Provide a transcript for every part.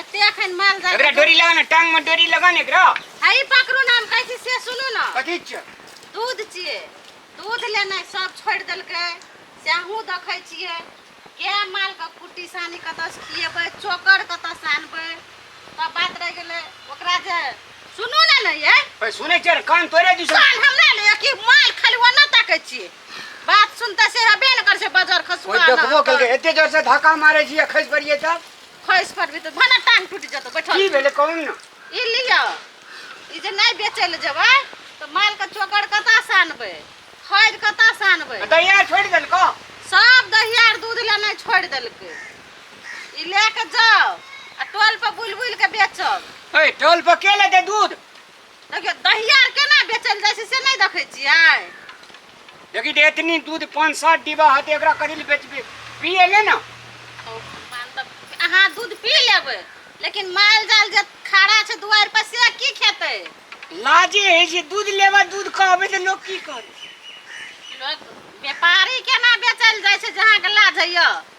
एते अखन माल जाल एकरा डोरी लगा ना टांग में डोरी लगा ना एकरा हई पकड़ू ना हम कहै छी से सुनू ना कथी छियै दूध छियै दूध लेनाइ सब छोड़ि देलकै से अहूँ देखै छियै के मालके कुट्टी सानी कतऽसँ खिएबै चोकर कतऽसँ आनबै तब बात रहि गेलै ओकरा जे सुनू ने ने यै भाई सुनै छियै कान तोड़े दी कान हमरा ने कि माल खाली ओना ताकै छियै बात सुनते से हेबे ने करै छै बजर कोई खसुआ देखबो केलकै एते जोर से धक्का मारे छियै खसि पड़ियै तब खैस पड़बी तऽ भने टांग टूटि जेतौ बैठल की भेलै कहू ने ई लिअ ई जे नहि बेचै लए जेबै तऽ मालके चोकर कतऽ से आनबै खैर कतऽ से आनबै दहिया छोड़ि देलको सब दहिया आर दूध लए नहि छोड़ि देलकै ई लए कऽ जाउ आ टोल पर बुलि बुलि कऽ बेचब हे टोल पर के लेतै दूध देखियौ दहिया आर केना बेचल जाइ छै से नहि देखै छियै लेकिन एतनी दूध पाँच सात डिब्बा हते एकरा करी ले बेचबे पिए ले ना ओ भगवान, तब अहाँ दूध पी लेबै लेकिन माल जाल जे खड़ा छै दुआरि पर से की खेतै लाजे है जे दूध लेबा दूध कहबे तऽ लोक की करे लोक व्यापारी केना बेचल जाइ छै जे अहाँके लाज होइए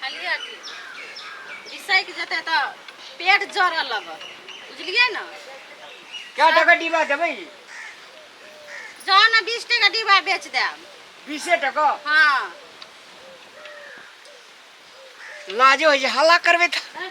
बुझलियै कि बिसैक जेतै तऽ पेट जरऽ लगत बुझलियै ने क्या टका डिब्बा देबै जाउ ने बीस टके डिब्बा बेच देब बीसे टका हँ लाजो होइ छै हल्ला करबै तऽ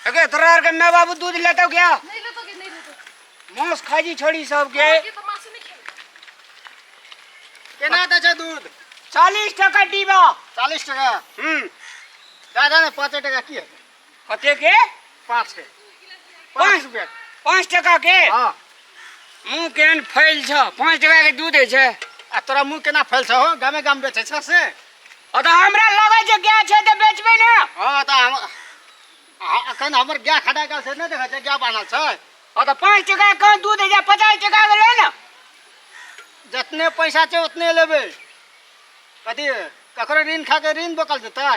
अगे तरार के मैं बाबू दूध लेता हूँ क्या नहीं लेता कि नहीं लेता मांस खाजी छोड़ी सब के ये तो मासी नहीं खेल केना दै छै दूध चालीस टका डीबा चालीस टका हम्म दादा ने पाँचे टका की हेतै कते के पाँच के पाँच पाँच रुपया पाँच टका के हँ मुंह केहन फैल छ पाँच टका के दूध है छै आ तोरा मुँह केना फैल छौ हो गामे गाम बेचै छौ से अ त हमरा लगे जे गाय छै त बेचबे ना हां त हम आ- अखन हमर गाय खड़ा गाय से नहि देखै छै गाय बान्हल छै अ त पाँच टका कम दूध जे पचास टका के ले ना जतने पैसा छै उतने लेबै कथी ककरो ऋण खा के ऋण बकल जेतै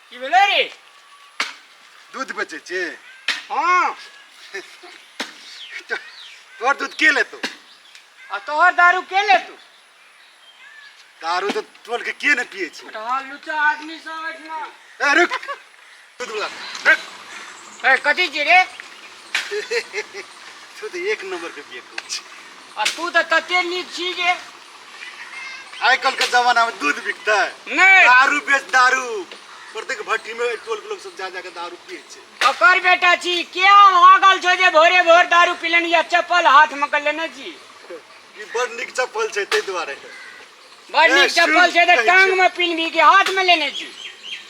की भेलै रे दूध बेचै छी हँ तो- तोहर दूध के लेतौ आ तोहर दारू के ले तू दारू तऽ टोल के के ने पियै छै तोहर लुच्चा आदमी सब एहिठिना ए रुक दूध वाला रुक ए, कथी छी रे तू तऽ एक नंबर के बियकू छै आ तू तऽ तते नीक छी जे आइ काल्हि के जमाना में दूध बिकतै नहि दारू बेच दारू प्रत्येक भट्टी में टोल के लोग सब जा जाके दारू पिए छै ओकर बेटा छी किया भागल छो जे भोरे भोर दारू पिलनि या चप्पल हाथ में के लेने छी ई बड़ नीक चप्पल छै ताहि दुआरे बड़ नीक चप्पल छै तऽ टांग में पिन्हबी कि हाथ में लेने छी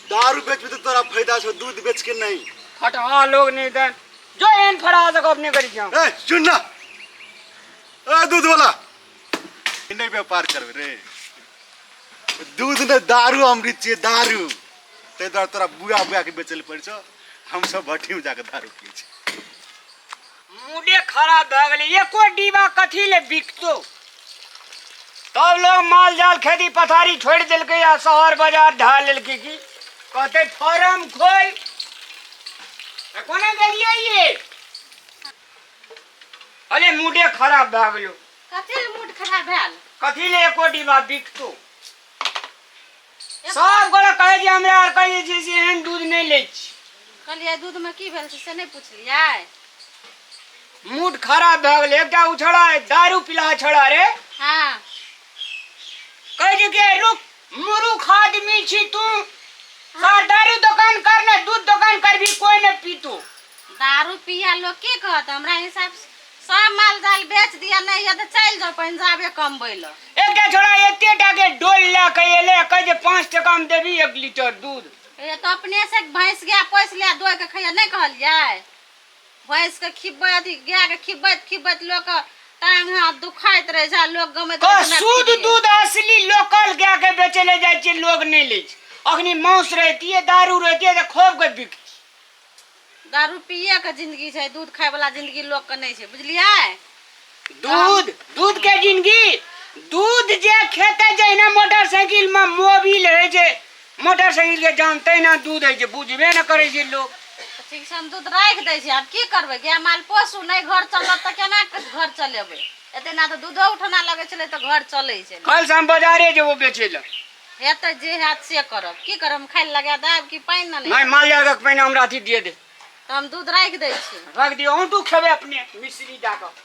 दारू बेचबी तऽ तोरा फायदा छौ दूध बेच के नहीं फटहा लोग नहीं दन जो एन फड़ा तक अपने करी जाओ ए सुन ना ए दूध वाला इन्हें व्यापार करबे रे दूध ने दारू अमृत छियै दारू ताहि दुआरे तोरा बुआ बुआ के बेचल पड़ै छौ हमसभ भट्ठीमे जाके दारू पियै छी मूडे खराब भए गेलै एको डिब्बा कथी ले बिकतो तब लोग माल जाल खेती पथारी छोड़ दिलक आ शहर बाजार ढाल लेलक की कहते फार्म खोल त कोने गेलिए ये अरे मूडे खराब भए गेलो कथी ले मूड खराब भेल कथी ले एको डिब्बा बिकतो सब गोरा कहै जे हमरा आर के जे छै से एहन दूध नहि लै छी कहलियै दूधमे की भेल छै से नहि पुछलियै मूड खराब भए गेलै एकटा ओ छोड़ा दारू पिलहा छोड़ा रे हँ कहै छै कि रुक मुरुख आदमी छी तू सर दारू दोकान कर ने दूध दोकान कर भी कोई ने पीतू दारू पिया लोग की कहत हमरा हिसाब से सब माल जाल बेच दिया नहीं है तो चल जाओ पहन जाबे कमबै ल एकटा छोड़ा एते टा के डोल ला के एले कह जे 5 टका में देबी 1 लीटर दूध ये तो अपने से भैंस गाय पोस लिया दोय के खैया नहीं कहलिए भैंस के खिब्बै अथी गाय के खिब्बैत खिब्बैत लोग के टांग हाथ दुखाइत रहे जा लोग गमैत कह रहे, हमरा शुद्ध खिब्बै। दूध असली लोकल गाय के बेचे ले जाय छै लोग नहीं ले छै अखनी मांस रहतिए दारू रहतिए त खोब के बिक दारू पिए के जिंदगी छै दूध खाय वाला जिंदगी लोग के नहीं छै बुझलिए दूध दूध के जिंदगी दूध जे खेते जहिना मोटरसाइकिल में मोबिल है जे मोटरसाइकिल के जान तहिना दूध है जे बुझबे न करे छै लोग ठीक छै हम दूध राख दे छै आब की करबे गाय माल पोसू नहीं घर चलत त केना घर चलेबे एते ना तो दूधो उठना लगे छले तो घर चले छले कल से हम बाजारे जेबो बेचे ल हे तऽ जे हैत से करब की करब हम खाइ लए लगा देब कि पानि ने नहि माल जाल के पहिने हमरा अथी दिए दे तऽ हम दूध राखि दै छी रख दियौ अहूँ तू खेबै अपने मिश्री दए कऽ